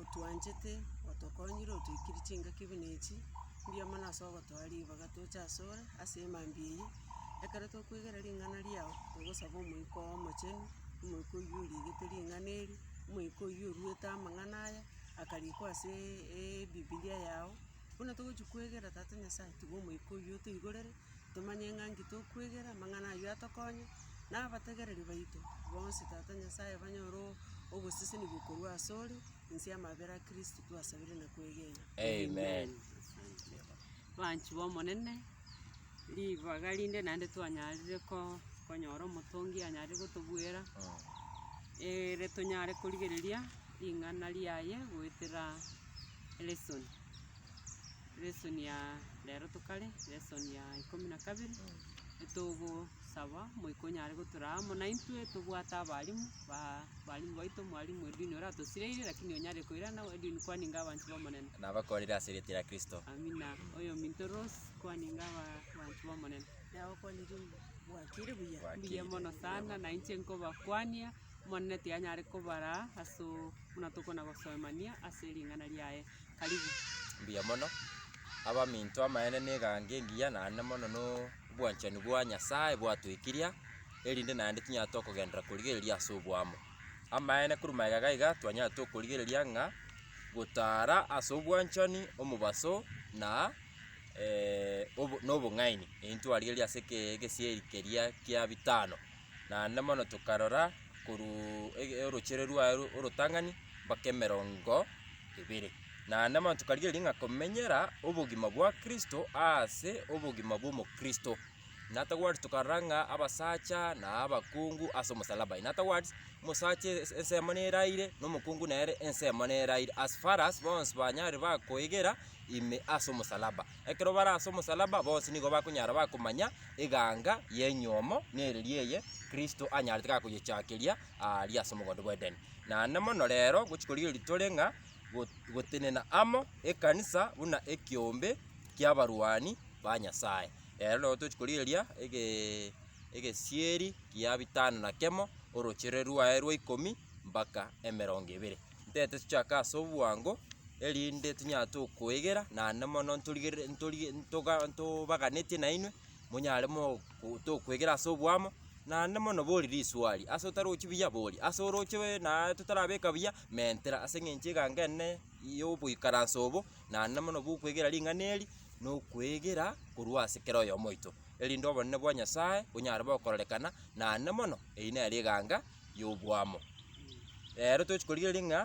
otwanchete, otokonyire, otoikire chingaki buna echi, mbuya mono ase ogotoa ribaga toche ase ore, ase mambia eyio, ekero tokwegera ring'ana riao, togosaba omoika oo omochenu, omoika oyio oriegete ring'ana eri, omoika oyio oruete amang'ana aya, akarikwa aseeee ebibilia yao, buna togochi kwegera tata Nyasaye, tiga omoika oyio otoigorere. tomanye ng'a nki tokwegera, amang'ana ayio atokonye, na abategereri baito bonsi Tata Nyasae banyore o- ogosesenigwa korwa asore, inse y'amabera a Kristo twasabire na kwegena. Amen. Abanchwa b'Omonene, ribaga rinde naende twanyarire ko- konyora omotongi anyare gotobuera, ere tonyare korigereria ring'ana riaye goetera lesson. lesson ya rero tokare, lesson ya ikomi na kabere, etogosaba moika onyare gotoraa amo naintwe tobwate abalimu ba abalimu baito, mwalimu Edwin oratosireire lakini onyare koirana Edwin kwaninga abanto b'Omonene. Nabakorire ase erieta ria Kristo. Amina. Oyominto Rose, kwaninga aba- abanto b'Omonene. Nabakwanire mbwatire buya. Mbuya mono sana, nainche nkobakwania. Omonene tiyanyare kobaraa ase oo buna tokonagosoemania ase ring'ana riaye. Karibu. Mbuya mono, abaminto amaene negango engiya naende mono nobwanchani bwa Nyasaye bwatoikiria erinde naende tonyare tokogenderera korigereria ase oboamo. Amaene korwa magega gaiga twanyarete okorigereria ng'a gotara ase obwanchani, omobaso na nobong'aini. Eyio ntwarigereria ase egesieri keria kia bitano. naende mono tokarora korwa orochere rwaye orotang'ani mpaka emerongo ebere. Naende mono tokarigereria ng'a komenyera obogima bwa Kristo aase obogima bw'omokristo. Natagwati tokarora ng'a abasacha na abakungu ase omosalaba. Natagwati omosacha ensemo neraire na omokungu nere ensemo neraire as far as bonsi banyare bakoegera ime ase omosalaba. Ekero bare ase omosalaba bonsi nigo bakonyara bakomanya eganga y'enyuomo nereria eye Kristo anyarete gakoyechakeria aaria ase omogondo bw'Edeni. Naende mono rero gochia korigereria tore ng'a gotenena amo ekanisa buna ekeombe ki'abarwani ba Nyasae. Ero nabo tochia korigereria egesieri gia bitano na kemo, orochere rwaye rwa ikomi mpaka emerongo ebere. ntaete tochake ase obwango, erinde tonyare tokoegera naende mono ntorigereri ntorige ntoga ntobaganetie nainwe, monyare mogo tokoegera ase oboamo, naende mono bori riswali, ase otarochi buya bori, ase oroche bee naaa totarabeka buya, mentera ase eng'encho egango ene yoboikaranse obo, naende mono bokoegera ring'ana eri, na okoegera korwa ase kera oyomo oito, erinde obonene bwa Nyasae bonyare bokororekana, naende mono, eyio nere eganga. y'oboamo. Reero tochi korigereria ng'a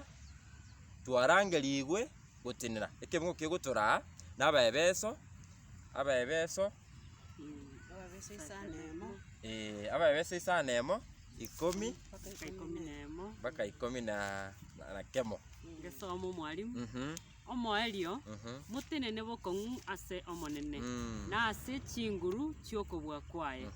twarangerigwe gotenena ekebegungo kegotoraa na abaebeso, abaebeso, Ababeso isano emo, ee, abaebeso isano na emo, ikomi mpaka ikomi na emo, mpaka ikomi na na kemo. ngesoma omwalimu. Mhm. omoerio motenene bokong'u ase Omonene, na ase chinguru chi'okobua kwaye.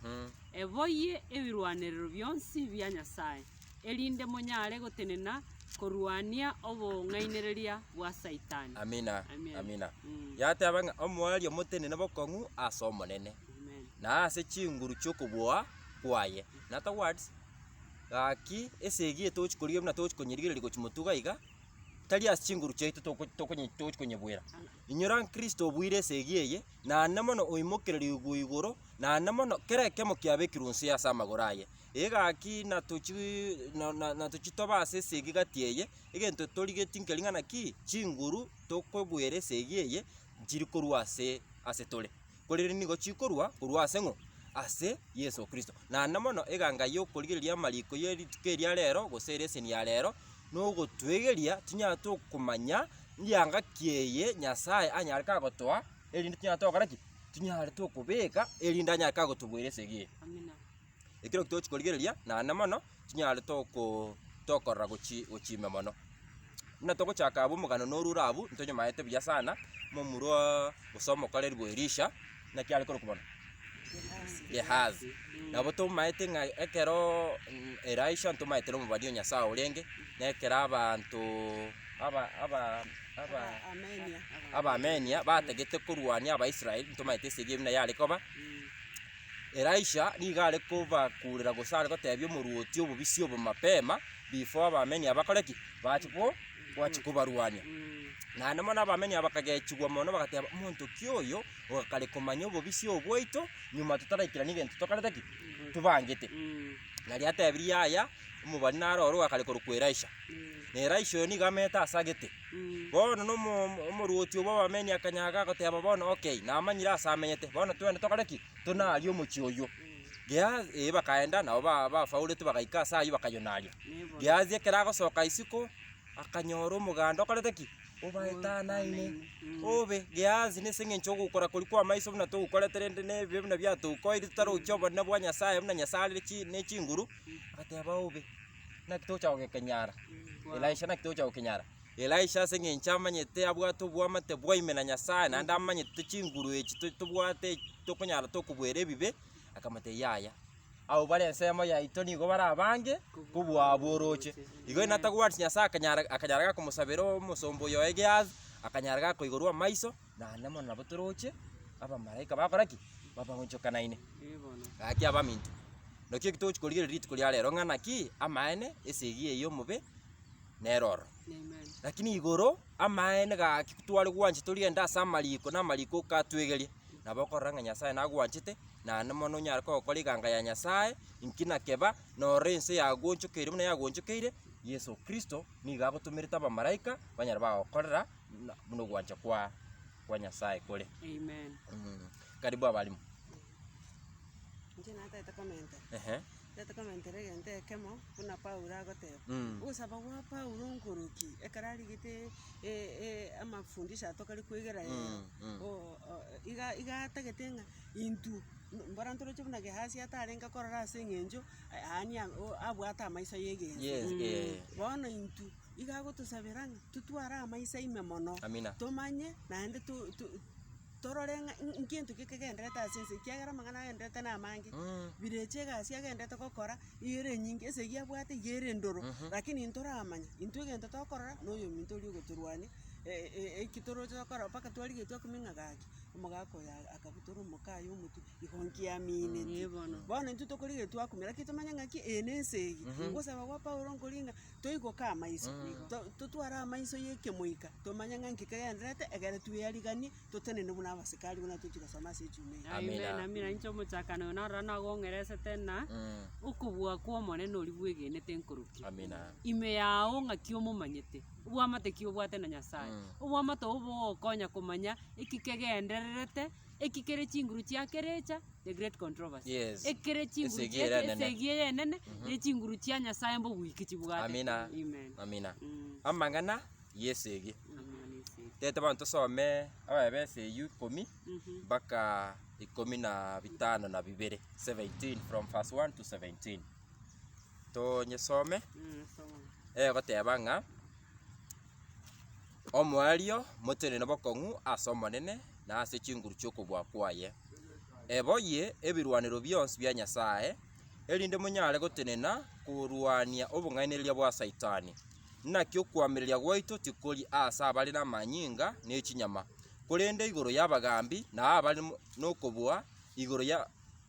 Eboyie ebirwanerero bionsi bia Nyasae, erinde monyare gotenena korwania obong'ainereria bwa Saitani. Amina, Amen. amina. Mm. Yateba ng'a omoerio motenene bokong'u ase Omonene, Amen. na ase chinguru chi'okobua kwaye. In other words, gaki esegi etogochi korigia buna togochi konyerigereria gochi motuga iga, Tari ase chinguru chiaito toko- tokonye- tokonyebwera, inyora Kristo obuire esegi eye, naende mono oimokererigwe igoro, naende mono kera ekemo kiabekirwe onsi ase amagoro aye. Eye gaki natochi na- na- natochi tobe ase esegi gati eye, egento torigeti nkeri ng'a naki, chinguru tokobwera esegi eye, nchiri korwa ase ase tore. korende nigo chikorwa korwa ase ng'o? Ase Yeso Kristo. Naende mono eganga y'okorigereria amariko ye rituko eria rero, gose ere eseni ya rero, nogotwegeria tinyare tokomanya rianga ki eye Nyasae anyare kagotoa, erinde tinyare togokora ki? Tinyare tokobeka erinde anyare kagotuboera esegi eye. Ekero tochi korigereria naende mono chinyare toko tokorora gochi gochia ime mono. Buna togochaka abwo omogano norwo ore abwo, ntonyamaete buya sana, momurwaa gose omokorerwa Elisha, naki are korokwa mono? Gehazi. Nabo tomaete ng'a ekeroo mm Elisha ntomaete na omobani o Nyasaye orenge, na ekero abantoo aba aba aba Abaamenia batagete korwania Abaisrael, ntomaete esegi eye buna yare koba. Elisha nigo are kobakurera gose are gotebia omorwoti obobisia obo mapema, before abameni aba bakore ki? Bache ko, bache kobarwania. Naende mono abameni aba bakagechigwa mono bagateba, omonto ki oyo ogakare komanya obobisia obo bwaito, nyuma totaraikirani egento tokorete ki? Tobangete. Nari atebirie aya, omobani naro ore ogakare korokwa Elisha. Na Elisha oyo nigo amerete ase agete, Bono na omorwoti obo bw'Abameni akanyaga, agoteba, Bono okay, namanyire aase amenyete, bono twende tokore ki? Tonarie omochie oyio. Gehazi, ee, bakaenda, nabo ba- bafauretwe bagaika aase ayio bakayonaria. Gehazi ekero agosoka isiko, akanyora omoganda okorete ki? Obaetanaine. Obe, Gehazi, nase eng'encho y'ogokora koria kw'amaiso buna togokorete rende na ebibe buna biatokoire totarochi obonene bwa Nyasae buna Nyasae arere chi- ne chinguru, agateba obe. Naki tocha gokenyara? Elisha, Naki tocha gokenyara? Elisha, Ase engencho amanyete abwate oboamate bwaime na Nyasae, naende amanyete chinguru echi to- tobwate echi tokonyara tokobuera ebibe, akamotebia, Yaya, abwo bare ensemo yaito nigo bare abange kobua abwo oroche. Igo ere natagwenereti Nyasae akanyara akanyara gakomosabera omosomba oyoe Gehazi, akanyara gakoiborwa amaiso. Naende mono nabo toroche abamalaika bakora ki? Babaonchokanaine. Gaki abaminto, naki eki togochi korigereria rituko ria rero ng'a naki amaene ase egiya eyio omobe nere ororo. Lakini igoro amaene gaki tware gwancha torigende ase amariko na amariko okatwegeria, nabo okorora ng'a Nyasae nagwanchete naende mono onyare kogokora eganga ya Nyasae inki nakeba norore ense yagoonchokeire buna yagoonchokeire, Yeso Kristo nigo agotomerete abamalaika banyare bagokorera. na- buna ogwancha kwa kwa Nyasaye kore. Amen. Mm. Karibu abalimu. Inche natete komenta, Ehe. ntete komentera egento ekemo buna Paulo agoteba. Mm. Ogosaba gwa Paulo nkoroki, ekero arigete e- e- amafundisho aya tokare kwegera rero, Mm, mm. o- o- iga- iga atagete ng'a intwe m- mbora ntoroche buna Gehasi atarenge korora ase eng'encho, yaani a- o- abwate amaiso y'egento. Yes, eh. Bono intwe Igo agotosabera ng'a totware amaiso aime mono, Amina. tomanye naende to- to- torore ng'a ngento ki kegendererete ase ense, ekiagera amang'ana agendererete namange, Mm. birecha egasi agendererete gokora, iga ere enyinge, esegi abwate iga ere endoro, lakini ntoramanya, intwe egento tokorora, na oyominto oria ogotorwania, e- e- eki toroche gokora mpaka twarigetie komeng'a gaki, omogaka oyo a- akabutora omoka aye omotwe, igo nkiamineti. Bono intwe tokorigia twakumi, lakini tomanye ng'aki eye nense eye. Ogosaba gwa Paulo nkori ng'a. Toigoka amaiso, totware amaiso y'ekemoika, tomanye ng'a nki kegendererete, egere tweyariganie, totenene buna abasikari buna tochi gosoma ase echuma eye. Amen, amina. Inche omochakano oyo narora nagong'eresete ng'a okobua kw'Omonene oria bwegenete nkorokia. Amina. Ime yao ng'aki omomanyete, obwamate ki obwate na Nyasae, obwamate obo bogokonya komanya eki kegendererete. Eki kere chinguru chia kerecha the great controversy. Yes. Eki kere chinguru Esegi chia ere enene. esegi eye enene ne chinguru chia Nyasaye mbogwiki chibwate. Amina. Amen. Amina. Mm. Amang'ana yesegi. Amang'ana yesegi. Tete bono tosome abaya b'esegi ikomi Mhm. mpaka ikomi na bitano na bibere 17 from verse 1 to 17 tonyesome Mm, soma. egoteba ng'a Omoerio motenene bokong'u ase Omonene, na ase chinguru chi'okobua kwaye. Eboyie ebirwanero bionsi bia Nyasae, erinde monyare gotenena korwania obong'ainereria bwa Saitani. Naki okoamereria gwaito tikori ase abare namanyinga ne chinyama, korende igoro y'abagaambi na abare nokobua, igoro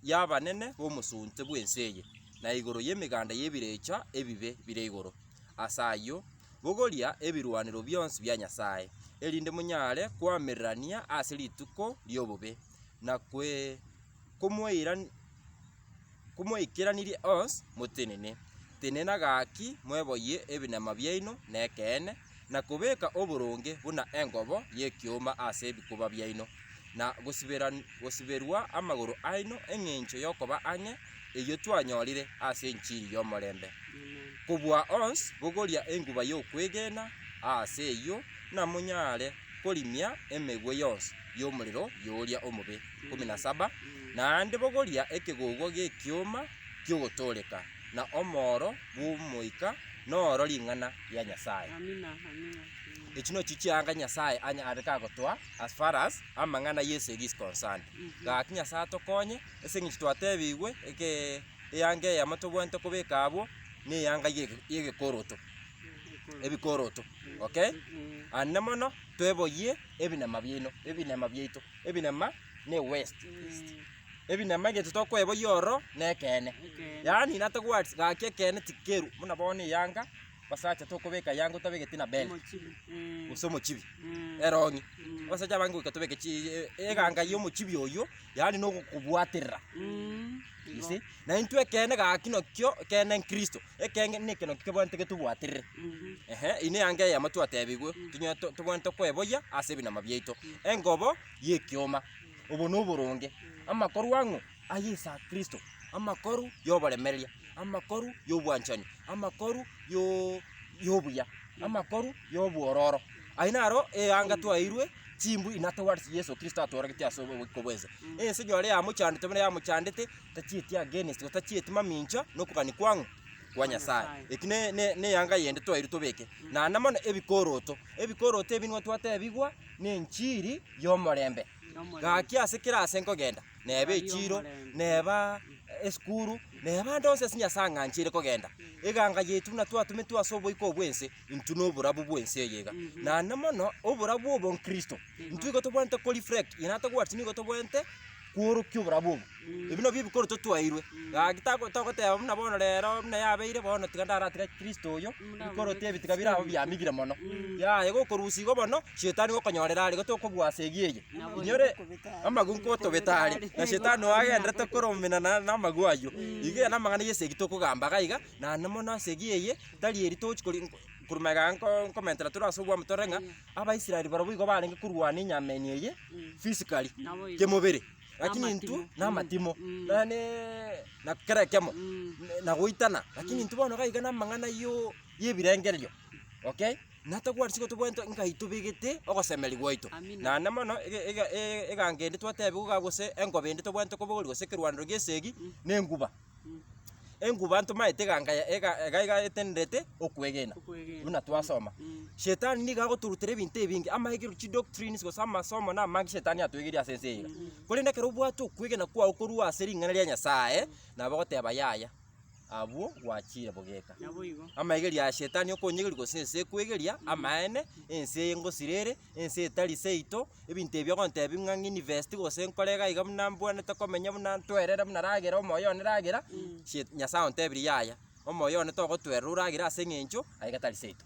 y'abanene b'omosunte bw'ense eye, na igoro y'emeganda y'ebirecha ebibe bire igoro ase ayio. Bogoria ebirwanero bionsi bia Nyasae, erinde monyare koamererania ase rituko ri'obobe, na komoikeranirie onsi motenene. Tenena gaki mweboyie ebinema biaino nekeene, na kobeka oboronge buna engobo y'ekioma ase ebikuba biaino. na gosiberan gosiberwa amagoro aino engencho yokoba ang'e eyio twanyorire ase enchiri y'omorembe. Kobua ons bogoria enguba yokwegena aase eyio namonyare korimia emegwe yonsi yomorero yoria omobe. 17 naende bogoria ekegogo gekioma kiogotoreka, na omooro bw'omoika noro ring'ana ria Nyasaye. Amina, amina. Echi nochio chianga Nyasaye anya are kagotoa. as far as amang'ana a Yeso is concerned. Gaki Nyasae atokonye ase eng'encho twatebigwe eke eanga eyemo tobwenerete kobeka abwo ne eanga yege yegekoroto ebikoroto okay and ne mono tweboyie ebinema biaino ebinema biaito ebinema na ewest ebinema egento tokoeboyia ororo na ekeene yaani nata words gaki ekeene tikeru buna bono eyanga. Basacha tokobeka aya ango tabegeti na bell gose omochibi erong'i abasacha abange goika tobeke chi eganga ya omochibi oyio yaani na ogokobwaterera you see na intwe ekeene gaki nakio ekeene nkristo ekenge na ekero kebwanete getobwaterere ehe eyio na eanga eyemo twatebigwe tonya to- tobwanete okoeboyia ase ebinama biaito engobo ya ekioma obo na oboronge amakorwa ang'o. aye ase Kristo, amakoru y'oboremereria, amakoru y'obwanchani, amakoru yo- y'obuya, amakoru y'obwororo. Ayio naro eanga twaeirwe chimbu inatogwate ase Yeso Kristo atooregete ase obogiko bwense. Ense nore yamochandete buna yamochandete, tachieti against gose tachieti mamincha na okogania kwang'o? Kwa Nyasae. Eki ne- ne- neanga yende twaeirwe tobeke. Naende mono ebikoroto, ebikoroto ebi nigo twatebigwa na enchiri y'omorembe. Gaki ase kera aase nkogenda, neba echiiro, neba esukuru, neba ande onsi ase Nyasae ang'anchire kogenda. Eganga yaito buna twatumetwe ase oboiko bw'ense, intwe noborabu bw'ense eye iga. Naende mono, oborabu obo nkristo, intwe igo tobwenerete koreflect, ere atagwetire nigo tobwenerete kworokia oborabu obo. Ebi nabio ebikoro totwairwe. Gaki tako togoteba buna bono rero buna yabeire bono tiga ndaratiga Kristo oyo, ebikoroto ebi tiga bire aba biamigire mono. Yaya igo okorusia igo bono, shetani okonyorera are igo tokobua ase eyio eye. Inyore amagu nkotobete are, na shetani oyo agenderete koromenana namagu ayio. Iga ere namang'ana yesa eki tokogamba iga iga, na naende mono ase eyio eye, tari eri tochi kori nko korwa iga nko nkomentera tore ase obwami tore ng'a, Abaisraeli barobwo igo barenge korwana enyama eye eye physically, kemobere. lakini intwe Namatimo. namatimo, Mm. Mm. na ne na kera ekemo Mm. ne- na goitana, lakini intwe bono iga iga na amang'ana yo y'ebirengererio, okay? Natagwati igo tobwenerete ng'ai tobegete ogosemeria gwaito. Amina. Naende mono ege ege e- egango ende twatebiwa iga gose engobe ende tobwenerete kobogoria gose ekerwanero gi'esegi, Mm. nenguba. Enguba ntomaete eganga ya- ega- ega- iga etenderete okwegena, Okwegena. buna twasoma. Mm. Shetani nigo agotorutera ebinto ebinge, amaegero, chidoctrines, gose amasomo na amange shetani atoegeria ase ense eye. Korende ekero obwate okwegena kwao korwa ase ring'ana ria Nyasaye, nabo ogoteba yaya, abwo gwachire bogeka. Naboigo. Amaegerio ya shetani okonyegeria gose ense ekwegeria, amaene, ense eye ngosira ere, Ense etari seito, ebinto ebi ogontebia ng'a ng'invest gose nkore iga iga buna mbwanete komenya buna ntwerere buna ragera omoyo one ragera, sie Nyasae ontebirie yaya, omoyo one togotwerera oragere ase eng'encho aye iga tari seito.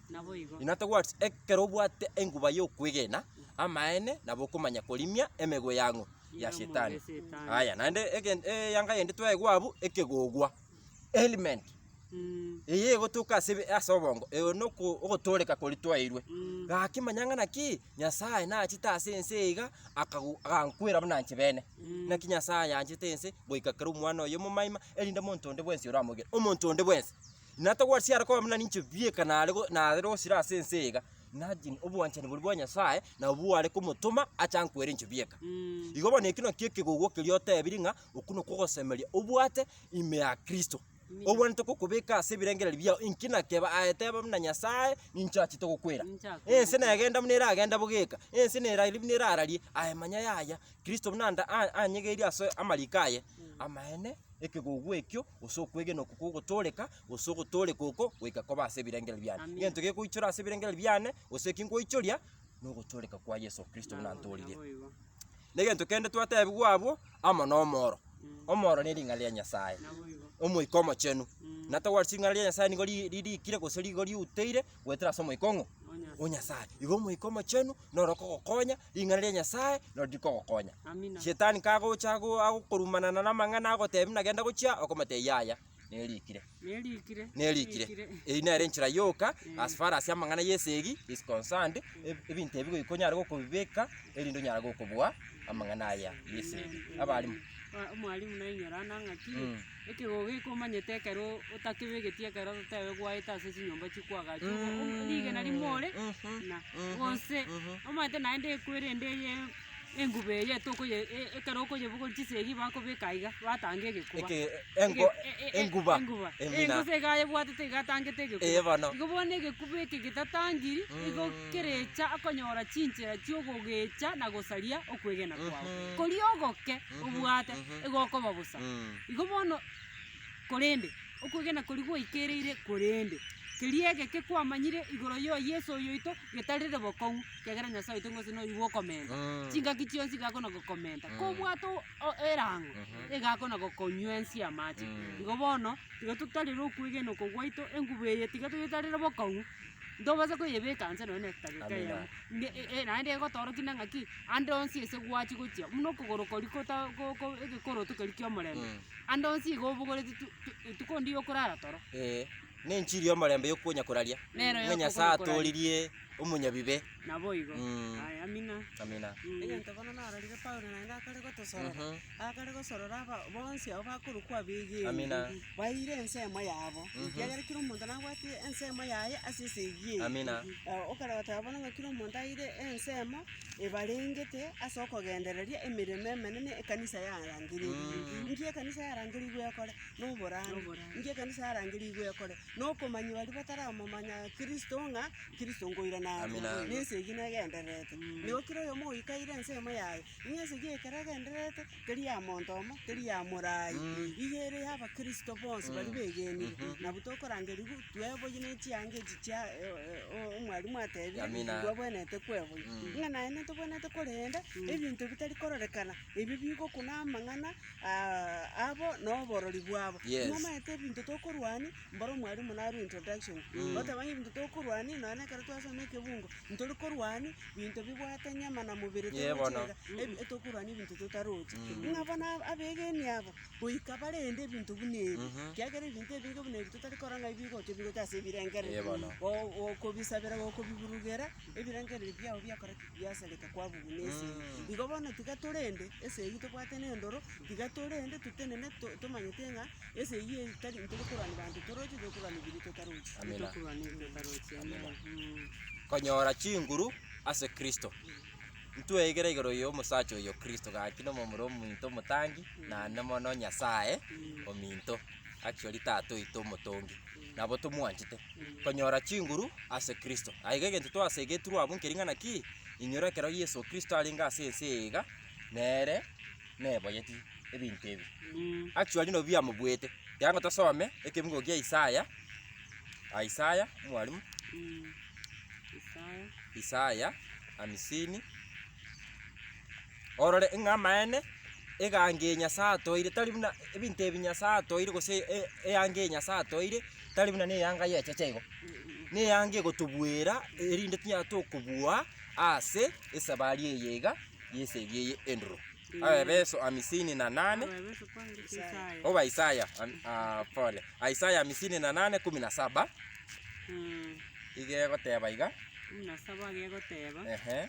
Inwe towards ekero obwate enguba yokwegena amaene nabo okomanya korimia emegwe yang'o? Ya Shetani. Aya, naende egen eyanga eyende twaegwa abwo, ekegogwa. Helmet eye egotoka ase ebe- ase obongo, eye noko ogotooreka koria twaeirwe, gaki manya ng'a naki, Nyasae nachete ase ense eye iga, akago agankwera buna inche bene. Naki Nyasae ayanchete ense, goika kera omwana oye omomaima, erinde omonto onde bwensi oramoigere, omonto onde bwensi. Natagwati siare koba buna ninche bieka nare go nare gosira ase ense eye iga, imagine obwanchani boria bwa Nyasae, nabo bware komotoma ache ankwere inche bieka. Igo bono ekio nakio ekegogo keria otebirie ng'a Okwo nokwo ogosemeria obwate ime ya Kristo, obwenerete gokobeka ase ebirengererio biao, inki nakeba? Aye teba buna Nyasae, ninche achete gokwera. Ense negenda buna eragenda bogeka, ense neraria buna erararie, aye manya yaya, Kristo buna anda a- anyegeiri ase amariko aye. Amaene, ekegugu ekio, gose okwegena okwo kogotooreka, gose ogotooreka oko, goika koba ase ebirengererio biane. Egento gekoichora ase ebirengererio biane, gose eki nkoichoria. nogochoreka kwa Yeso Kristo buna ntorire. Negento kende twatebigwa abwo amo nomoro. Omoro nering'ana ria Nyasaye, Omoika Omochenu. Na togwati ring'ana ria Nyasaye nigo ri- ririkire gose nigo riuteire goetera ase Omoika ong'o? O Nyasaye. Igo Omoika Omochenu noro okogokonya, ring'ana ria Nyasaye noro rikogokonya. Shetani kagocha ago- agokorumanana namang'ana agotebi buna genda gochia, okomotebi yaya. Nerikire. Nerikire. Nerikire. Eyi nere enchera yoka eh. as far as amang'ana yesegi is concerned eh, ebinto ebi goiko nyare gokobibeka erinde onyare gokobua amang'ana aya yesegi abalimu omwalimu naye nyorana ng'aki mm. ekegogo ekomanyete ekero otakebegeti ekero totebe gwaete ase chinyomba chikwagachi mm. rigena rimore mm-hmm. na mm-hmm. gose mm-hmm. omanyete naende ekwerende eye enguba eye tokoye e- ekero okoyebogori chisegi bakobeka aiga, batanga egekuba. Eke- engo- Ege- e- e- e- enguba enguba. emina. Engusa iga ayebwatete iga atangete egekuba. Eye bono. Igo bono egekuba eke getatangiri, igo Mm. kerecha akonyora chinchera chiogogecha na gosaria okwegena kwao. Mhm. Koria ogoke Mhm, obwate, mhm. igo okoba bosa. Mm. Igo bono, korende, okwegena koria gwaikereire korende, keria egeke kwamanyire igoro yo Yeso oyoito getarire bokong'u. ekiagera Nyasae oito gose noyo igo okomenta, Eeh. chingaki chionsi iga akona gokomenta. Eeh. Kobwate o- o- erango, Ehe. iga akona gokonywensia amache. Eeh. Igo bono, igo totarire okwegena oko gwaito, engubo eye tiga toyetarere bokong'u, ntobasa koyebeka nse nonye na edageka Amina. eyemo. Nge- e- e- naende egotorokia na ng'aki, ande onsi ase gwachia gochia, buna okogoro koria kota ko- ko egekoroto keria kiomorembe, Eeh. ande onsi iga obogoreti tu- tu- etuko ndiyo okorara toro. Eeh. Nenchiri y'omorembe y'okonya koraria, Nero ng'a Nyasae y'okogora koraria. atooririe omonyabibe. Naboigo. Mm. Aya, amina. Amina. Egento bono narorire Paulo naende akare gotosorora, Mhm. akare gosorora aba bonsi abwo bakorokwa abegeni, Amina. baeire ensemo yabo, ekiagera kera omonto nabwate ensemo yaye ase esegi eye. Amina. Eh, Okaragoteba bono ng'a kera omonto aeire ensemo ebarengete ase okogendereria emeremo emenene ekanisa yarangereire. Inki ekanisa yarangereirwe ekore? Noborande. Inki ekanisa yarangerigwe ekore? Nokomanyia baria bataramomanya Kristo ng'a Kristo nkoirana aa Amina. na ense eye nigo egendererete. Nigo kera oyomo oikaire ensemo yaye, ng'a ense eye ekero egendererete, teri ya monto omo, teri ya morai, iga ere ya abakristo bonsi baria begenire. Nabwo tokorangerigwa tweboyie ne chianga echi chia o- o- omwalimu atebire, Amina. twabwenerete kweboyia. Ng'a naye nere tobwenerete korenda ebinto bitari kororekana, ebio bigokuna amang'ana. abo noborori bwabo. Yes. Nimomanyete ebinto tokorwania, mboro mwarimu narwe introduction. Goteba ng'a ebinto tokorwania, nonye na ekero twasoma ekebungo, ntori korwania binto bibwate nyama na mobere Yee torochi bono. iga, ebi- etokorwania ebinto totarochi. Ng'a bono aba- abegeni aba, goika barende ebinto buna ebi, kiagera ebinto ebinge buna ebi totari korora ng'a ebigocha ebigocha ase ebirengerero. Yee bono. Go- gokobisabera gokobiburugera, Ebirengererio biao biakoreki biasareka kwabugu ne ese eye. Igo bono tiga torende ese eyio tobwate ne endoro, tiga torende totenene to- tomanyete ng'a ese eyio tari ntari korwa na banto toroche, tore korwa na ebiria totarochi. Amina. Ntokorwa ne ebio totarochi, Amina. amen. Konyora chinguru ase Kristo. Ntweigere igoro yomosacha oyo Kristo, gaki nomomura ominto omotangi, naende mono Nyasae ominto. actually tata oito omotongi, nabo tomwanchete, konyora chinguru ase Kristo. Aye iga egento twasegetirwe abwo nkeri ng'a naki, inyora ekero Yeso Kristo arenge ase ense eye iga, nere neboyeti ebinto ebi. Actually nabwo biamobuete, ekiagera nigo tosome ekebugo kia Isaya, Isaya, mwalimu, Isaya hamsini. orore ng'a amaene egango eye Nyasae atoeire tari buna ebinto ebi Nyasae atoeire gose e- eanga eye Nyasae atoeire tari buna ne eyanga y'echeche igo, ne eyanga egotobuera erinde tonyare tokobua ase esabari eye iga y'esegi eye enduro. Abaefeso hamisini na nane, oba Isaya ami aa pole, Isaya hamisini na nane kumi na saba, iga egoteba iga, ehe.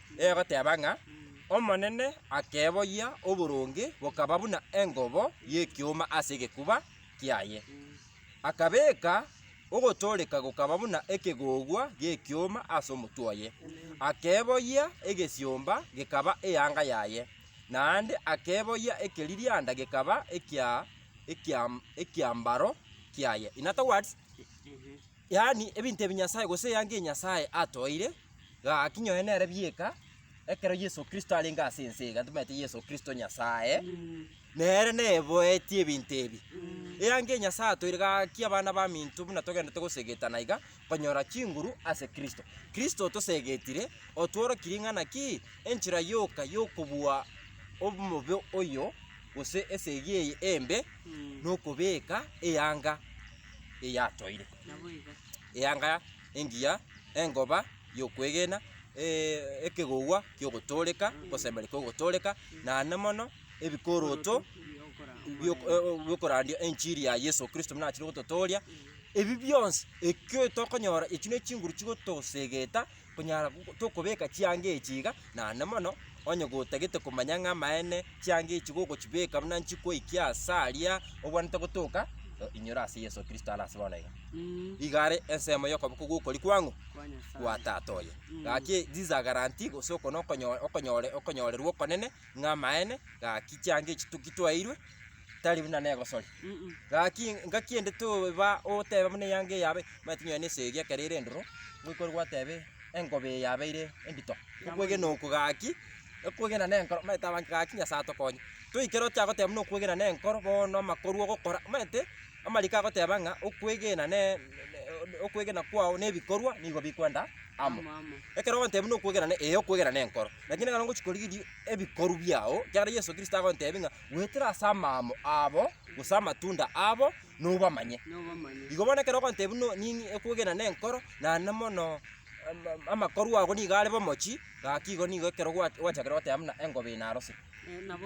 egoteba ng'a, Omonene akeboyia oboronge bokaba buna engobo y'ekioma ase egekuba kiaye, akabeeka ogotooreka gokaba buna ekegogwa gi'ekioma ase omotwe oye, akeboyia egesiomba gekaba eanga yaye, naende akeboyia ekeririanda gekaba ekia ekiam ekiambaro kiaye. yaani ebinto ebi Nyasae gose eanga eye Nyasae atoeire, gaki nyoe nere bieka, ekero Yeso Kristo arenge ase ense iga, ntomaete Yeso Kristo Nyasae, nere neboetie ebinto ebi. Eanga eye Nyasae atoeire, gaki abana baminto buna togenderete gosegetana iga, konyora chinguru ase Kristo. Kristo otosegetire, otworokia ring'ana ki? Enchera yoka yokobua omobe oyo, gose esegi eye embe, nokobeka eanga. eyatoire, eanga engiya, engoba y'okwegena, eeh ekegogwa ki'ogotooreka, ogoseemera kw'ogotooreka, naende mono ebikoroto bio biokorandia enchiri ya Yeso Kristo buna achire gototooria, ebi bionsi ekio tokonyora echio ne chinguru chigotosegeta. Konyara tokobeka chianga echi iga, naende mono onye gotagete komanya ng'a amaene chianga echi gogochibeka buna nchikoikia ase aria ogwenerete gotoka, inyora ase Yeso Kristo are ase bono iga. Iga are ensemo y'okoboko gw'okori kwang'u kwa Tata oye. Gaki these are guarantee gose oko nokonyora okonyore okonyorerwa okonene ng'a amaene, gaki chianga echi toki twaeirwe, tari buna negosori. Gaki ngaki ende toba oteba buna eyanga eye yabe, omanyete onye na esegi ekero ere endoro, ngoikore gwatebe engobe eye yabeire endito. Okwegena oko gaki, okwegena na enkoro, omanyete abange gaki Nyasaye atokonye. Toikere ocha goteba buna okwegena na enkoro bono amakoru ogokora, omanyete. Amariko agoteba ng'a okwegena ne okwegena kwao ne ebikorwa nigo bikwenda amo. Ekero ogontebia buna okwegena ne ee okwegena ne enkoro, lakini ekero ngochi korigeria ebikorwa biao, ekiagera Yeso Kristo agontebia ng'a goetera ase amaamo abo gose amatunda abo nobamanye. Igo bono ekero ogontebia buna nini okwegena ne enkoro, naende mono ama amakorwa ago nigo are bomochie, gaki igo nigo ekero gwa gwachakire goteba buna engobe eye narosire.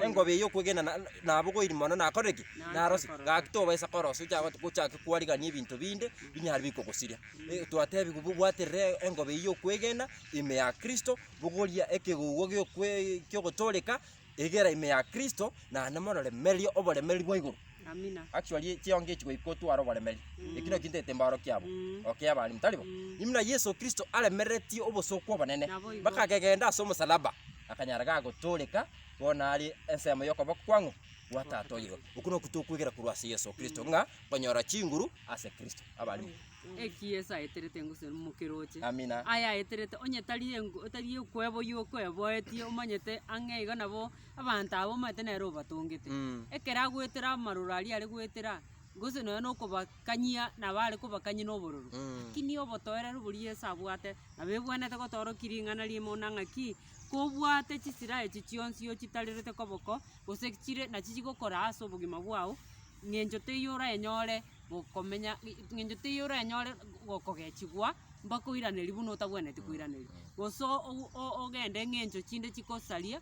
Engobe eyio okwegena na- na- nabogoiri mono nakorire ki? Narose. Gaki tobaisa korosa ocha gotu- gochake kwarigania ebinto binde binyare bikogosiria. Eh, twatebiwu bu- bwaterere engobe eyio okwegena ime ya Kristo, bogoria ekegogwa gi'okwe ki'ogotoreka, egera ime ya Kristo, naende mororemererie oboremeri bwa igoro. Amina. Actually chiongo echi goika otware oboremeri, eki nakio ntaete embaro kiabo, Mm. okay abande, tari bo? Imuna Yeso Kristo aremeretie obosooku obonene, Naboigo. mpaka akegenda as'omosalaba. akanyara gagotooreka bono are ensemo y'okoboko kwang'o? Kwa Tata oye igoro. Okwo nokwo tokwegera korwa ase Yeso Kristo, ng'a nkonyora chinguru ase Kristo. Abarimo. Eki Yeso aeterete engosoi mokeroche. Amina. Aya aeterete onye tari engo tari okweboyia okweboetie omanyete ang'e iga nabo abanto aba omanyete nere obatongete. Mm. Ekero agoetera amaroro aria are goetera. gose nonya na okobakanyia nabo are kobakanyia na obororo, lakini obotoereru boria Yeso abwate, nabo ebwenerete gotorokia ring'ana riaye buna ng'aki, kobwate chisira echi chionsi ochitarerete koboko, gose chire nachi chigokora ase obogima bwao, ng'encho teiyo oranyore gokomenya ng'i- ng'encho teiyo oranyore go- kogechigwa mpaka oiranerie buna otagwenereti koiraneria, gose o- o- ogende ng'encho chinde chikosaria.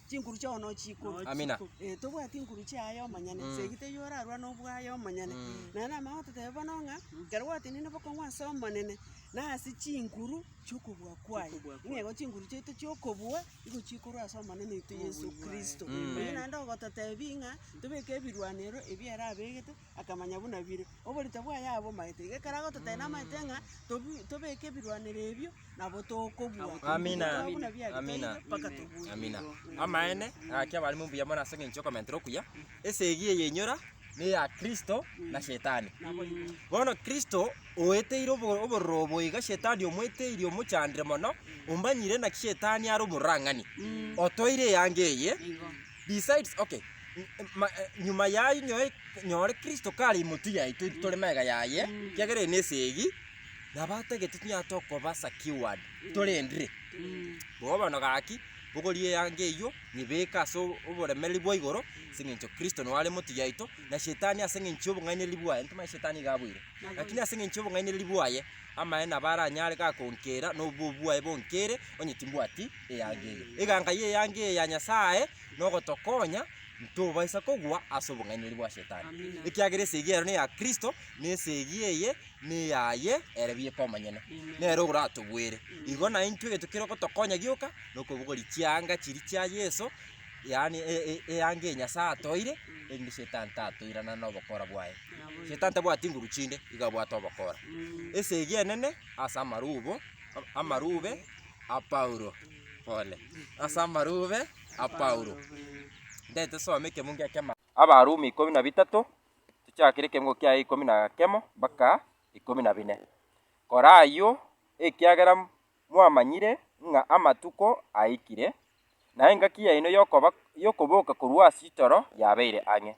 Chinkuru chiao nochi ikomi. Amina. Eh, tobwati inkuru chiaye omonyene, Mm. segi teiyo orarwa nobwaye omonyene. Mm. Naye namanya gototebia bono ng'a ekero gwatenene bokong'u ase Omonene, na ase chinkuru chi'okobua kwaye. Chi'okobua kwaye. Nigo chinkuru chiaito chi'okobua nigo chikorwa ase Omonene oito Yesu Obonyu bwaye. Kristo. Mm. Oyio naende ogototebia ng'a tobeke ebirwanerero ebio ere abegete, akamanya buna bire. Oborito bwaye aba omaete, iga ekero agototebia namaete ng'a tobu- tobeke ebirwanero ebio, nabo tokobua. Amina. Tokoba buna biarenge, Amina. toibe mpaka tobue. Amina. Amaene, gaki abarimo mbuya mono ase eng'encho y'okomentera okuya. Esegi eye enyora neya Kristo na shetani. Bono Kristo oeteire obo- obororo obo iga shetani omoeteirie omochandire mono, ombanyire naki shetani are omorurang'ani. Otoire eanga eye, Besides, okay, nyuma yaye nyoe nyore Kristo kare imotwe yaito intwe tore mega yaye, kiagera eye nesegi, nabo atagete tonyare tokoba secured, torendire. Bobe bono gaki, bogoria eanga eyio, nyebeke ase oboremereri bwa igoro, ase eng'encho Kristo noare imotwe yaito, na shetani ase eng'encho y'obong'ainereria bwaye, ntomanye shetani iga aboire, lakini ase eng'encho y'obong'ainereria bwaye, amaene nabo aranyare gakonkera, na obobe bwaye bonkere, onye timbwati. eanga eye. Eganka y'eanga eye ya Nyasae nogotokonya ntobaisa kogwa ase obong'ainereria bwa Shetani, ekiagera esegi ero neya Kristo, na esegi eye neyaye ere bieka omonyene, nere oratogwere. Igo na intwe egento kere ogotokonya gioka nokobugori chianga chiria chia Yeso, yaani eanga eye Nyasae atoire erinde Shetani tatoirana nobokora bwaye. Shetani tabwati nguru chinde, igo abwate obokora. Esegi enene ase amarubo, amarube. a Paulo, pole, ase amarube a Paulo. Ndete some ekemungo ekemo. Abarumi ikomi na bitato, tochakire ekemungo kiaye ikomi na kemo mpaka ikomi na bine. Kora ayio, ekiagera mwamanyire ng'a amatuko aikire, na engaki yaino y'okoba y'okoboka korwa ase itoro yabeire ang'e.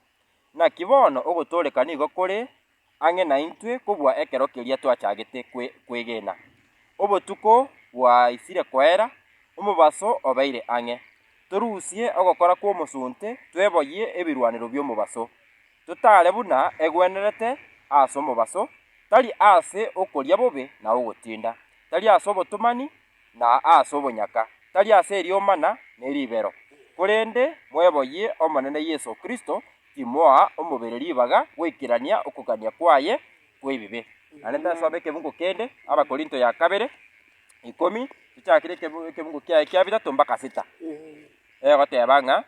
Naki bono ogotooreka nigo kore ang'e naintwe kobua ekero keria twachagete kwe kwegena. Obotuko bwaisire koera, omobaso obeire ang'e. Torusie ogokora kw'omosunte, tweboyie ebirwanero bi'omobaso, totaare buna egwenerete ase omobaso, tari ase okoria bobe na ogotinda, tari ase obotomani, na aase obonyaka, tari ase eriomana ne ribero, korende mweboyie Omonene Yeso Kristo, timoa omobere ribaga goikerania okogania kwaye kw'ebibe. Naende nsome ekebungo kende, Abakorinto ya kabere, ikomi, tochakire ekebungo kiaye kia bitato mpaka sita, egoteba ng'a,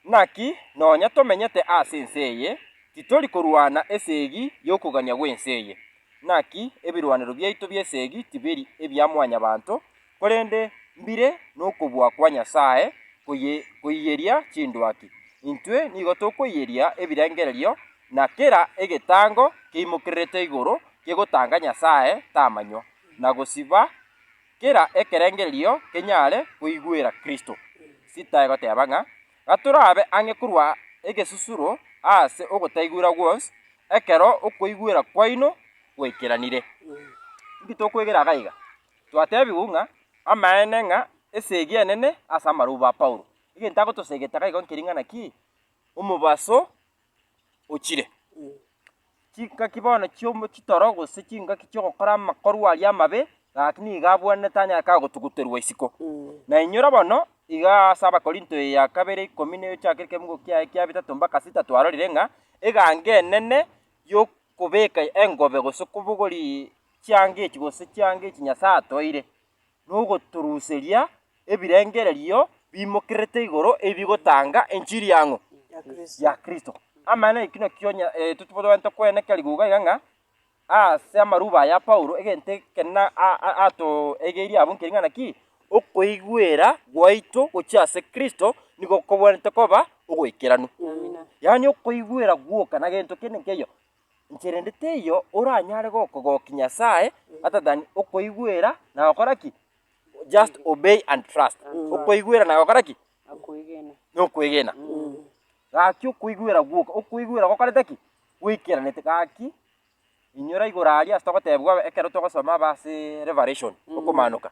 Naki nonya tomenyete ase ense eye, titori korwana esegi y'okogania gw'ense eye, Naki ebirwanero biaito bi'esegi tibiri ebia mwanyabanto, korende mbire nokobua kwa Nyasae koiyeria chindwaki. Intwe nigo tokoiyeria ebirengererio na kera egetango keimokererete igoro kegotanga Nyasae tamanywa, na gosiba kera ekerengererio kenyare koigwera Kristo. Sita egoteba ng'a Gatorabe ang'e korwa egesusuro aase ogotaigwera gwonsi, ekero okoigwera kwaino gwaikeranire. Inki tokwegera iga iga? Twatebigwa ng'a amaene ng'a esegi enene ase amaroba a Paulo. Egento agotosegete iga iga nkering'ana ki? Omobaso ochire. Chingaki bono chi'omo chitoro gose chingaki chi'ogokora amakorwa aria amabe, gaki nigo abwenerete anyare kagotuguterwa isiko. Na inyora bono, igaa ase Abakorinto eya kabere ikomi na egochaka ekemugo kiaye kia bitato mpaka sita twarorire ng'a eganga enene y'okobeka engobe gose okobogori chianga echi gose chianga echi Nyasae atoeire. nogotoruseria ebirengererio biimokerete igoro ebi bigotanga enchiri y'ang'o? Ya Kristo. Amaene ekio nakio onye totobwenerete koeneka rigoka iga ng'a ase amaruba aya Paulo egento ekenene atoegeirie abwo nkeri ng'a naki? Okoigwera gwaito gochia ase Kristo nigo kobwenerete koba ogoikeranu. Yaani okoigwera gwoka na gento kende nkeiyo inche rende teiyo oranyare gokogokia Nyasae other than okoigwera na gokora ki? Just obey and trust. Okoigwera na gokora ki? Na okwegena. Gaki okoigwera gwoka, okoigwera gokorete ki? Gwaikeranete. Gaki, inyora igoro aria ase togotebiwa ekero togosoma aba ase Revelation, Okomaanoka,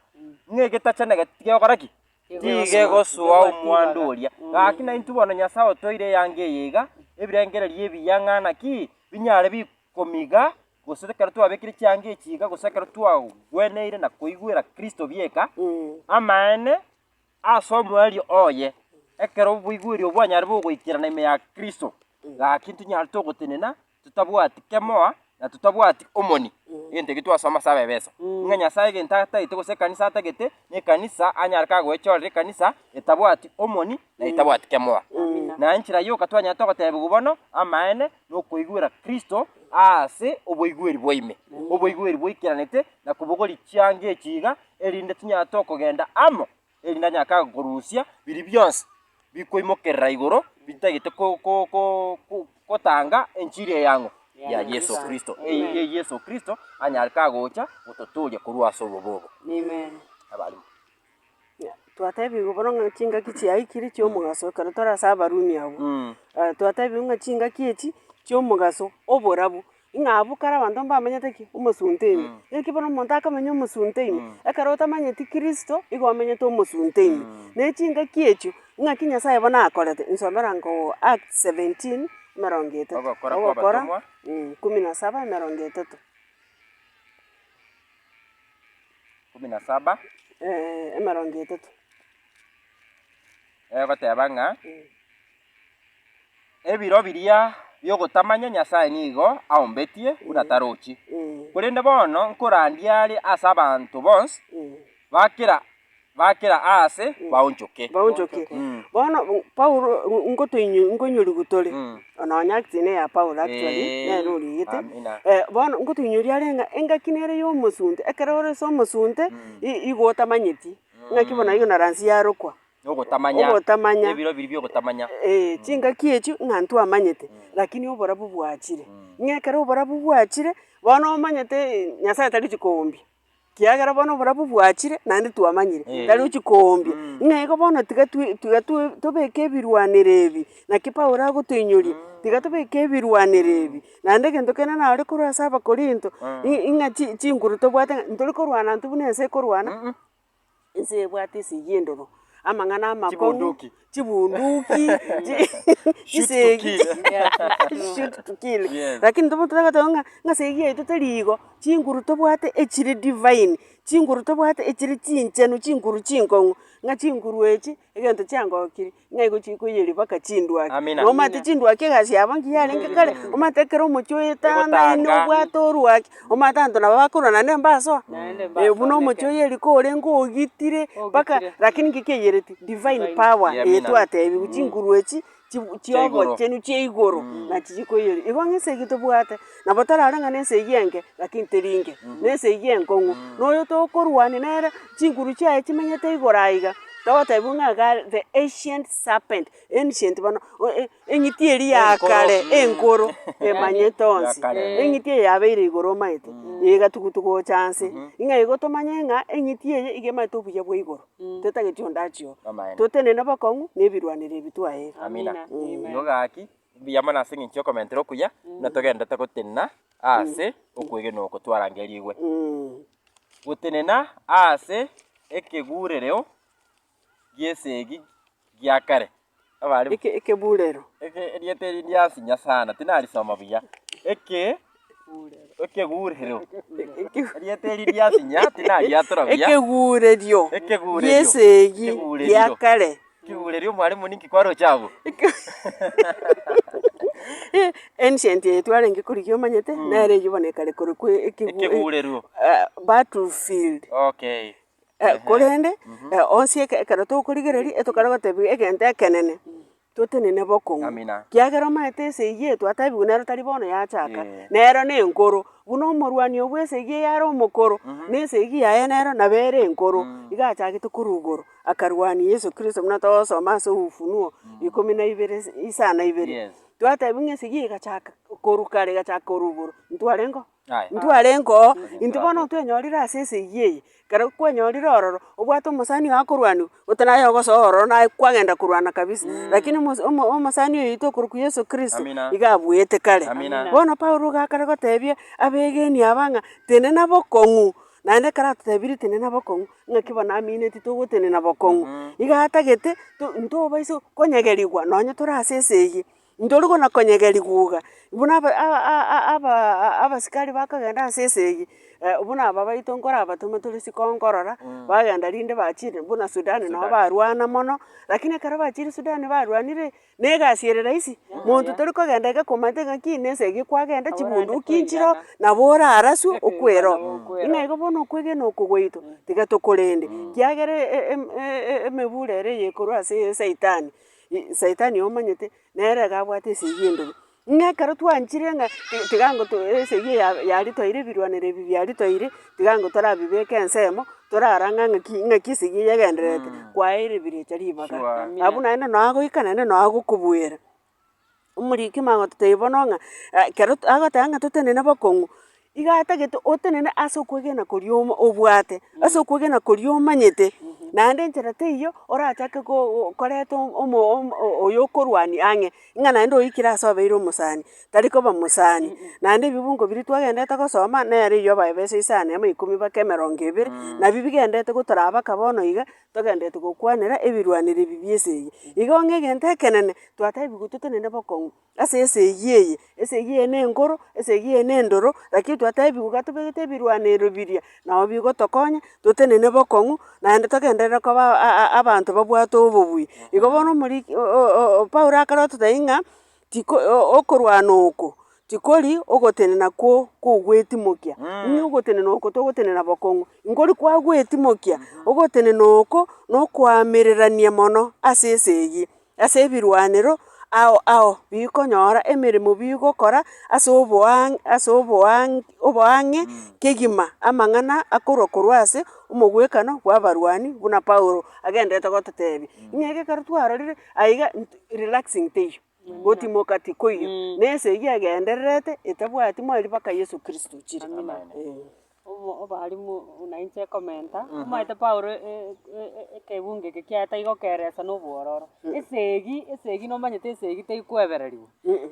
ng'a egetachani eke tigekogora ki? Nigo egosoa omwando oria. Gaki naintwe bono Nyasae otoire eanga eye iga, ebirengererio ebiya ng'a naki binyare bikomiga, gose ekero twabekire chianga echi iga, gose ekero twagweneire na koigwera Kristo bieka, amaene ase omoerio oye, ekero oboigweri obwo bwanyare bogoikerana ime ya Kristo, gaki intwe nyare togotenena totabwati kemoa, na totabwati omoni, egento ekio twasoma ase Abaefeso, ng'a Nyasae egento atagete gose ekanisa atagete, nekanisa anyare kagoechorera ekanisa etabwati omoni na etabwati kemoa. Na enchera yoka twanyarete ogotebiwa bono amaene nokoigwera Kristo aase oboigweri bwaime, oboigweri boikeranete na kobogori chianga echi iga, erinde tinyarete okogenda amo erinde anyake gokorusia biria bionsi bikoimokerera igoro bitagete gotanga enchiri eyang'u ya Yeso Kristo, eyio Yeso Kristo anyare kagocha gototooria korwa ase obobe obo. Amen. Twatebigwa bono ng'a chingaki chiaikire chi'omogaso ekero tore ase Abarumi abwo. Twatebigwa ng'a chingaki echi chi'omogaso oborabu. Ng'a abwo kare abanto mbamenyete ki? Omosunte ime. Naki bono omonto akamenya omosunte ime, ekero otamanyeti Kristo, igo omenyete omosunte ime. Na echingaki echio, ng'aki Nyasae bono akorete, nsomera nkoo Acts seventeen, emerongo etato. Ogokora kw'Abatomwa. Ogokora, kumi na saba, emerongo etato. Kumi na saba, Eeh, emerongo etato. egoteba ng'a. Ebiro biria bi'ogotamanya Nyasae nigo aombetie buna tarochi, korende bono nkorandia are ase abanto bonsi ba kera ba kera aase baonchoke. Baonchoke. Mm. Bono mm, Paulo mm, ngotoinyo nkoinyorigu tore, Mm. nonya acts ne ya Paulo actually, Eh, nere oriegete. amina. Eh, bono ngotoinyoria are ng'a engaki nere y'omosunte, ekero ore ase omosunte, i- igo otamanyeti, ng'aki bono igo na ransi yarokwa, Nogotamanya. Ogotamanya. Ebiro ebiria biogotamanya. Ee, chingaki echio ng'a ntwamanyete, lakini oborabu bwachire. Ng'a ekero oborabu bwachire, bono omanyete Nyasaye tarichi koombia, kiagera bono oborabu bwachire naende twamanyire, tarochi koombia. Ng'a igo bono tiga twi tiga twi tobeke ebirwanero ebi, naki Paulo agotoinyoria, tiga tobeke ebirwanero ebi, naende egento kende naro korwa ase Abakorinto, i- ing'a chi chinguru tobwate ng'a ntori korwana intwe buna ense ekorwana. Ense ebwate esegi endoro, amang'ana amakong'u, Chibunduki. chibunduki, chi- Shoot to chisegi, kill. shoot to kill. Yes. Lakini tobo totaba goteba ng'a ng'a esegi yaito teri igo, chinguru tobwate echire divine, chinguru tobwate echire chinchenu, chinguru chinkong'u, ng'a chinguru echi egento chiangokirie. Ng'a igo chikoiyerwa mpaka chindwaki. Amina. Nomanyete chindwaki egasi yabo nki yarenge kare, omanyete ekero omochie oetanga naende Egotanga. obwate orwaki, omanyete abanto nabo bakorwa naende mbasoa. Naende mbasoa Ee, buna omochie neke. oyo riko orenge ogitire, mpaka Ogitire. lakini nki kiaiyereti? Divine power Amina. eye twatebiwe, chinguru echi, chi- Chia igoro. chiobochenu chia igoro, nachi chikoiyerwa. Igo ng'a esegi tobwate, Nabo tarare ng'a nense eyio enke, lakini teri inge, nense eyio enkong'u. Na oyo tokorwania nere, chinguru chiaye chimenyete igoro aiga, togotebiwa ng'a iga are the ancient serpent, ancient bono o- e- eng'iti eria ya kare enkoro, emanyete onsi. Eng'iti eye yabeire igoro omaete, eye egatugu togocha anse, ng'a igo tomanye ng'a eng'iti eye iga emanyete obuya bwa igoro, tetageti onde achie oo. Totenene bokong'u na ebirwanererio ebi twaeirwe. Amina. Nigo gaki. Mbuya mono ase engencho y'okomentera okuya, buna togenderete gotenena aase okwegenwa oko twarangerigwe. Gotenena aase ekeburereo gi'esegi gia kare. Abare. Eke, ekeburero. Eke, erieta eri ndi ase Nyasae, na tinari soma buya. Eke. Ekegurerio gi'esegi gia kare. Ancient eye twarenge korigia omanyete, nere eyio bono ekare korokwa ekegurerio, battle field. Korende onsi ekero tokorigereria etogokora gotebiwa egento ekenene. Totenene bokong'u. Amina. Kiagera omanyete esegi eye twatebigwe nero tari bono yachaka, Ee. nero nenkoro. Buna omorwani oo bw'esegi eye are omokoro, na esegi yaye nero nabo ere enkoro, igo achagete korwa igoro akarwania Yeso Kristo, buna togosoma ase Ufunuo ikomi na ibere is- isa na ibere. Yes. Twatebiwa ng'a esegi eye egachaka korwa kare, egachaka korwa igoro, intwarenge oo. Intwe arenko, intwe bono otwenyorire ase esegi eye, ekero kwenyorire ororo, obwate omosani oye akorwaniwa, gose naye ogosoa ororo naye kwagenda korwana kabisa, rakini omos omo omosani oito okorokwa Yeso Kristo, iga abuete kare. Bono Paulo iga akare gotebia abegenwa aba ng'a tenena bokong'u, naende ekero atotebirie tenena bokong'u, ng'aki bono amineti togotenena bokong'u. Iga atagete to intwe oboiso konyegerigwa nonye tore ase esegi. Ntori gona konyegera riguga. Buna aba aba aa aba aa abasikari bakagenda ase esegi, buna aba baito nkorabatome tore siko nkorora, bagenda rinde bachire buna Sudan nabo barwana mono, lakini ekero bachire Sudan barwanire, na egasi ere rahisi, monto tori kogenda iga komanyete ng'a ki na esegi kwagenda chibunduki nchireo, nabo oraraswe okwere oo. Ng'a igo bono okwegena oko gwaito, tiga tokorende, kiagera e- e- em- e- e- emebura ere eye ekorwa ase esaitani, Saitani oyo omanyete, nere iga abwate esegi endobe. Ng'a ekero twanchire ng'a ti- tiga ngo to esegi ya yaria twaire ebirwanero ebi biaria twaire, tiga ngo torabibeke ensemo, torarang'a ng'a ki ng'aki esegi eye egendererete, kwaeire ebirecha ribaga. Abwo naende noo agoika naende noo agokobuera. Omoriki magototebia bono ng'a ekero agoteba ng'a totenene bokong'u, iga atagete otenene ase okwegena koria omo obwate, ase okwegena koria omanyete, naende enchera teiyo orachake ko koreta omo omo oyo okorwania ang'e, ng'a naende oikire ase obeire omosani, tari koba mosani. Naende ebibungo biria twagenderete gosoma, nere eyio abaebesire isano ya ikomi mpaka emerongo ebere, nabio bigenderete gotorabaka bono iga, Togendereti gokwanera ebirwanero ebi bi'ense eye. Igo ng'a egento ekenene twataebigwe totenene bokong'u ase esegi eye. Esegi eye nenkoro, esegi eye nendoro, lakini twataebigwe iga tobegete ebirwanero biria, nabo bigotokonya totenene bokong'u, naende togenderere koba a- a- abanto babwate obobui. Igo bono omoriki o- o- o- Paulo akarotete ng'a tiko okorwana oko tikori ogotenena kwo kogwetimokia, nigo ogotenena oko togotenena bokong'u, nkori kwagwetimokia, ogotenena oko na okoamererania mono ase esegi, ase ebirwanero ao ao bikonyora emeremo bigokora ase oboang' ase oboang' oboang'e kegima, amang'ana akorwa korwa ase omogwekano bw'abarwani buna Paulo agendererete gototebia. Ng'a ekero twarorire. Aiga relaxing teiyo, gotimoka tikoiyo, na ense eyio egendererete etabwati mweri mpaka Yeso Kristo ochire. Eeh. Obo obarimu buna inche ekomenta, omanyete Paulo e- e- e- e- ekebungo eke kiaye taiga okeresa na obwororo. Esegi esegi nomanyete esegi teikoebereriwa,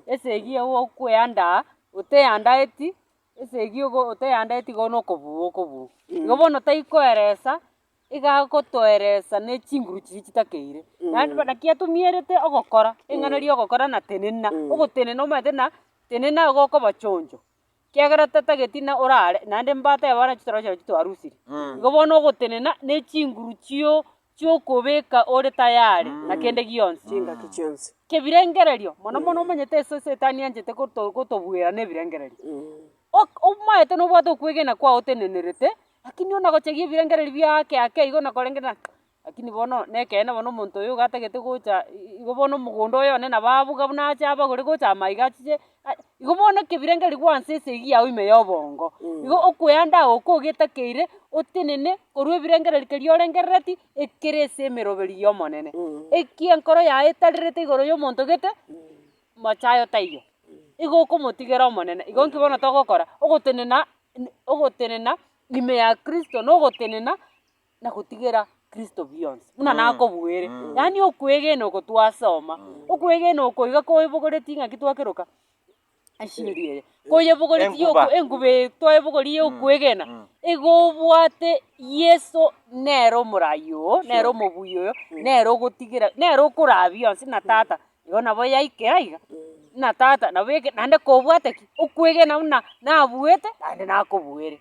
esegi eye gokweandaa oteandaeti, esegi ogo oteandaeti igo na okobua okobua. Igo bono taikoeresa igagotoeresa ne chinguru chiria chitakeire. Naende bono naki atomierete ogokora, ring'ana ria ogokora na tenena, ogotenena omanyete na tenena igo okoba chonjo, kiagera tatageti na orare naende mbata yabo nachi toroche nachi twarusire. Igo bono ogotenena na echinguru chio chiokobeka ore tayari na kende gionsi. Chingaki chionsi. Kebirengererio, mono mono omanyete ase setani anchete goto gotobuera na ebirengererio. Ok omaete nobwate okwegena kwao otenenerete, Lakini ona gochagia ebirengererio biaake ake igo nakorenge na. Lakini bono nekeene bono omonto oyo iga atagete gocha igo bono omogondo oye one nabo abuga buna ache abagore gocha ama iga achiche igo bono ekebirengererio gwansa esegi yao ime ya obongo. Igo okoeanda agwo ko ogetakeire otenene korwa ebirengererio keria orengerereti ekere ase emeroberio ya Omonene. Ekiankoro yaye etarerete igoro ya omonto gete. mocha aye otaiyo, igo okomotigera Omonene. Igo nki bono togokora? Ogotenena n- ogotenena ime ya kristo na ogotenena na gotigera kristo bionsi buna nakobuere. Yaani okwegena oko twasoma, okwegena oko iga koebogoretie ng'aki twakeroka eshiri eye, koyebogoretie Enkuba. yoku- enkuba eye twaebogoria ya okwegena, igo obwate yeso nere omoraai oo, nere omobuya oyo, nere ogotigera, nere okoraa bionsi na tata. Igo nabo yaikera iga, buna tata nabo eke naende kobwate ki? Okwegena buna nabuete naende nakobuere.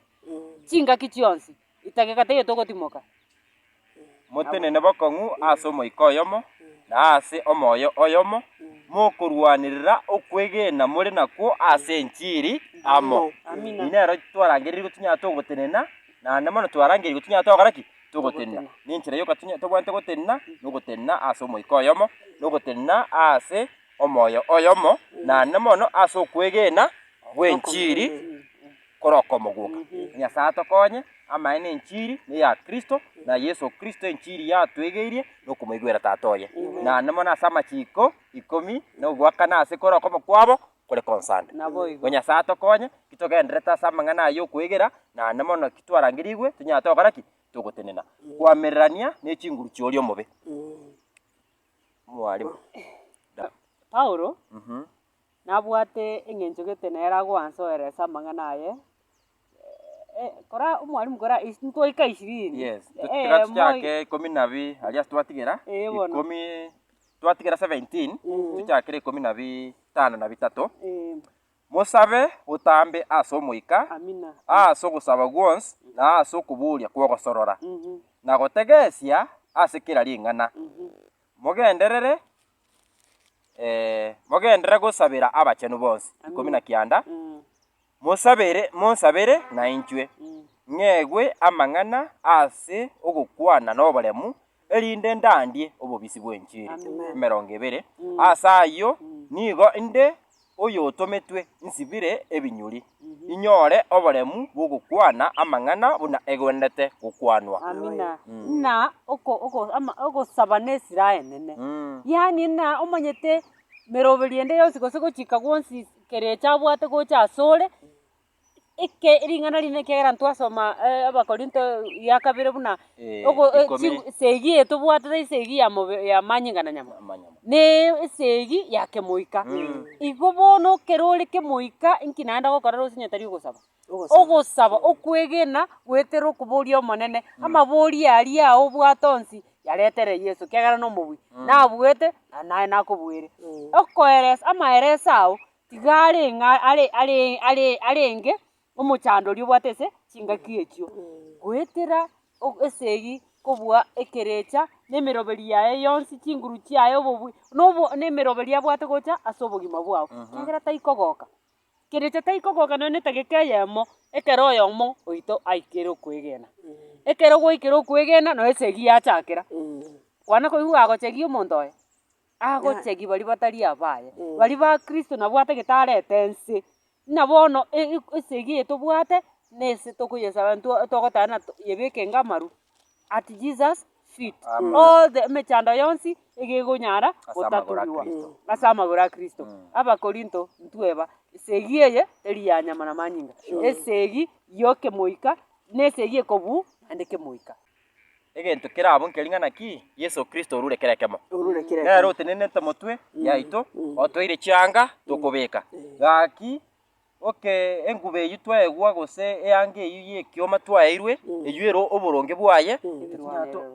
Chingaki chionsi, etageka teiyo togotimoka. Motenene bokong'u ase omoika oyomo, na ase omoyo oyomo, mokorwanerera okwegena more nakwo ase enchiri amo. Amina. Eyi nero twarangereirwe tonyare togotenena, naende mono twarangeirwe tonyare togokora ki? Togotenena nenchera y'ogotinya, tobwate gotenena nogotenena aase omoika oyomo, na ogotenena aase omoyo oyomo, naende mono aase okwegena gw'enchiri korokomo gwoka. Nyasae atokonye amanye nenchiri neya Kristo, na Yeso Kristo enchiri yatwegeirie nokomoigwera Tata oye. Naende mono ase amachiko ikomi nogoakana aase korokomo kwabo kore konsande. Naboigo. Ng'a Nyasae atokonye, ki togenderete ase amang'ana aya y'okwegera, na ande mono ki twarangeriigwe, tonyare togokora ki? Togotenena. Koamererania ne chinguru chi'oria omobe. Mwarimu. Da. Paulo nabwate eng'encho gete nere agoansoeresa amang'ana aye, kora omwalimu kora ais ntoika ishirini. Yes, tu- Eh, tiga moi- tuchake ikomi na abi- aria ase twatigera, Eh, bono. ikomi- twatigera seventeen, Mhm. tuchakere ikomi na bitano na bitato, Eh, mosabe botambe ase omoika, amina. ase ogosaba gwonsi, na ase okoboria kw'ogosorora, Mhm, na gotegesia ase kera ring'ana. mhm. Mogenderere mogenderere gosabera abachenu bonsi, ikomi na kianda, Mm. Mosabere, monsabere nainchwe, ng'egwe amang'ana ase ogokwana noboremu, erinde ndandie obobisi bw'enchiri. Emerongo ebere. Ase ayio nigo inde oyotometwe nsibire ebinyuri, inyore oboremu bw'ogokwana amang'ana buna egwenerete gokwanwa. Amina. Ng'a oko, oko, ama, ogosaba nesira enene. Yaani ng'a omanyete emeroberio ende yonsi gose gochika gwonsi Ekerecha abwate gocha asore, eke ring'ana rinde ekiagera ntwasoma abakorinto ya kabere buna ogo ikomi ching esegi eye tobwate tari esegi ya mobe ya manyinga na nyama, amanyama naaaa esegi ya kemoika. Igo bono ekero ore kemoika, inki naende ogokora ase onye tari ogosaba? Ogosaba. Ogosaba, okwegena, goetera okoboria Omonene amabori aria ao obwate onsi yaretere Yeso, kiagera nomobui, nabuete na naye nakobuere. Eh. Okoeresa, amaereso ao tiga are ng'a are are are arenge omochandori obwate ase chingaki echio, goetera o esegi kobua ekerecha na emeroberi yaye yonsi, chinguru chiaye, obobui, nobo na emeroberi abwate gocha ase obogima bwao, kiagera taikogoka. Kerecha taikogoka nonya netageka eyemo, ekero oyomo oito aikire okwegena. Ekero gwaikire okwegena, nonya esegi yachakera, kwana koigwa gwagochegi omonto oye? Agochegi baria batari abaye, baria ba kristo nabwo atagete arete nse. Ng'a bono e- e- esegi eye tobwate, nese tokoyesaba ntwa togotana to yebekenge amaru, at Jesus feet all the emechando yonsi egegonyara gotatorigwa ase amagoro a Kristo. Abakorinto ntweba esegi eye teri ya nyama na manyinga, esegi y'okemoika na esegi ekobu naende kemoika. Egento kera abwo nkeri ng'a naki? Yeso Kristo orure kera ekemo. Nere otenenete motwe yaito, otoire chianga tokobeka. Gaki. Oke, enguba eyio twaegwa gose eanga eyio y'ekioma twaeirwe, eyio ere oboronge bwaye,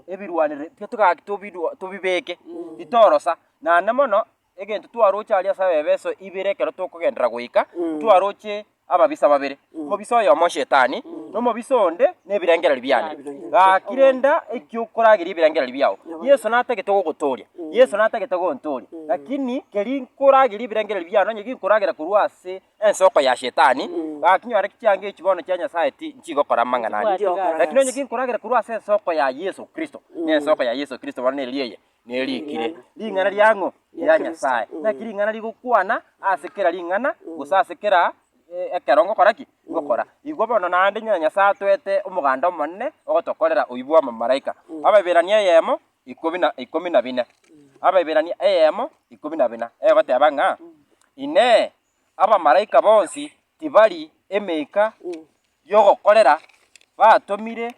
ebirwanire titogaki tobidwa tobibeke, titorosa, naende mono egento twaroche aria ase abebeso ibere ekero tokogenderera goika, ntwaroche ababisa babere, omobisa oyomo Shetani, na omobisa onde nebirengererio biane. Gaki renda ekio okorageria ebirengererio biao. Yeso natagete gogotooria. Yeso natagete gontooria, lakini keri nkoragerie ebirengererio biane, onye ginkoragera korwa ase ensoko ya Shetani, gaki nyore chianga echi bono chia Nyasae ti- nchigokora amang'ana ande. Lakini onye ginkoragera korwa ase ensoko ya Yeso Kristo, na ensoko ya Yeso Kristo bono neri eye? Neri ekire. Ring'ana riang'o? Ria Nyasae. Naki ring'ana rigokwana ase kera ring'ana, gose ase kera e- ekero ngokora ki? Ngokora. Igwa bono naende ng'a Nyasae atoete omoganda omonene ogotokorera oyio bw'abamalaika. Abaibirania eyemo, ikomi na ikomi na bine, Abaeberania eyemo ikomi na bina, egoteba ng'a, Inee, abamalaika bonsi tibari emeika y'ogokorera batomire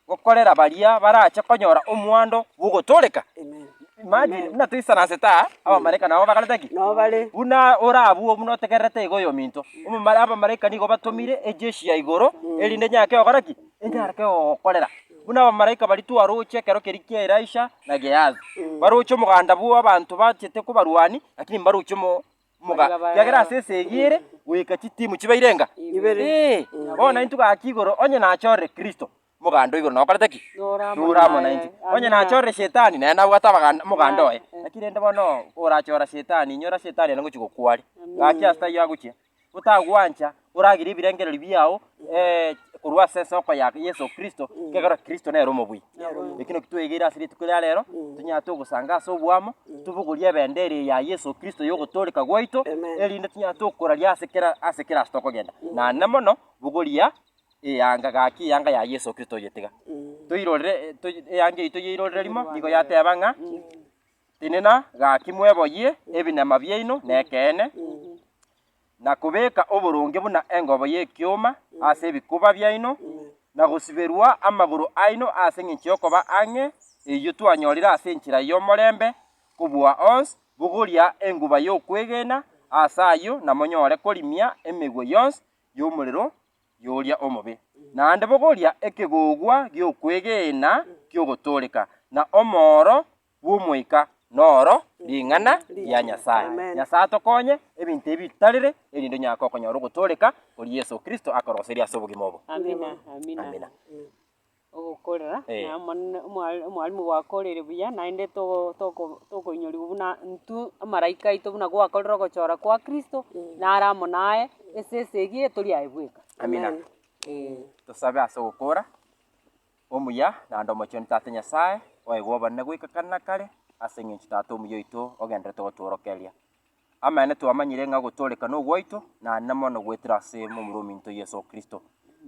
gokorera baria barache konyora omwando bw'ogotooreka? Amen. Imagine, buna toisanansete aa, abamalaika nabo bakorete ki? Nabo bare. buna ore abwo buna otegererete iga oyominto Omomala- abamalaika nigo batomire ejeshi ya igoro erinde enyake gokora ki enyare kegogokorera, buna abamalaika baria twaroche ekero keria kia Elisha na Gehazi, baroche omoganda bw'abanto bachete kuba abarwani, lakini mbaroche omo omoga, ekiagera ase esegi ere goika chitimu chibaire enga? Ibere. Ee, bono intwe gaki igoro onye nachorire Kristo, omoganda oigo nokorete ki? Nore amo Nore amo naye. nainche. Onye Amina. nachorire Shetani, naye nabwate abaganda- omoganda oye. Lakini rende bono, orachora Shetani, inyora Shetani aria ngochia gokware. Amina. Gaki ase taiyo agochia. otagwancha, oragere ebirengererio biao korwa ase esoko ya Yeso Kristo, ekiagera Kristo nere omobuya. Eki naki twegeire ase rituko eria rero, tonyare togosanga ase oboamo, tobogorie ebendera eye ya Yeso Kristo y'ogotooreka gwaito, erinde tonyare tokoraria ase kera ase kera ase tokogenda, na nene mono bogoria eyanga gaki eyanga ya Yeso Kristo oyetiga. Toirorere toyi eyanga eyito yairorera rimo, nigo yateba ng'a. Tenena gaki mweboyie ebinema biaino nekeene, na kobeka oboronge buna engobo y'ekioma ase ebikuba biaino, na gosiberwa amagoro aino ase engencho y'okoba ang'e eyio twanyorire ase enchera y'omorembe kobua onsi, bogoria enguba y'okwegena ase ayio na monyore korimia emegwe yonsi y'omorero y'oria omobe, naende bogoria ekegogwa gi'okwegena ki'ogotooreka, na omooro bw'Omoika noro ring'ana ria Nyasae. Nyasae atokonye ebinto ebi bitarire, erinde onyare kokonyora ogotooreka koria Yeso Kristo akoroseria ase obogima obo. Amina. Ogokorera, Eh. na omonene omwa- omwalimu gwakorire buya, naende togo toko tokoinyorigwa buna intwe amaraika aito buna gwakorire ogochora kwa kristo, nare amo naye, ase esegi eye tori aye bweka. Amina. Eh. Tosabe ase ogokora omuya naende omochenu Tata Nyasae, oegwe obonene goika kare na kare, ase eng'encho Tata omuya oito ogenderete gotworokeria. Amaene twamanyire ng'a gotooreka nogwaito, na nene mono goetera ase momura ominto Yeso Kristo.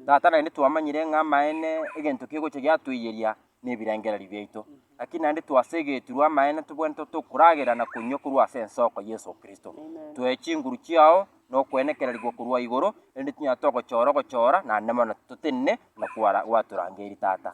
Tata naende twamanyire ng'a amaene egento kegocha giatoiyeria nebirengererio biaito. Naki naende twasegetirwe amaene tobwenerete tokoragera na konywa korwa ase ensoko Yeso Kristo. Toe chinguru chiao nokoenekererigwa korwa igoro, erinde tinyara togochora ogochora, na nene mono totenene buna kwara gwatorangeiri Tata.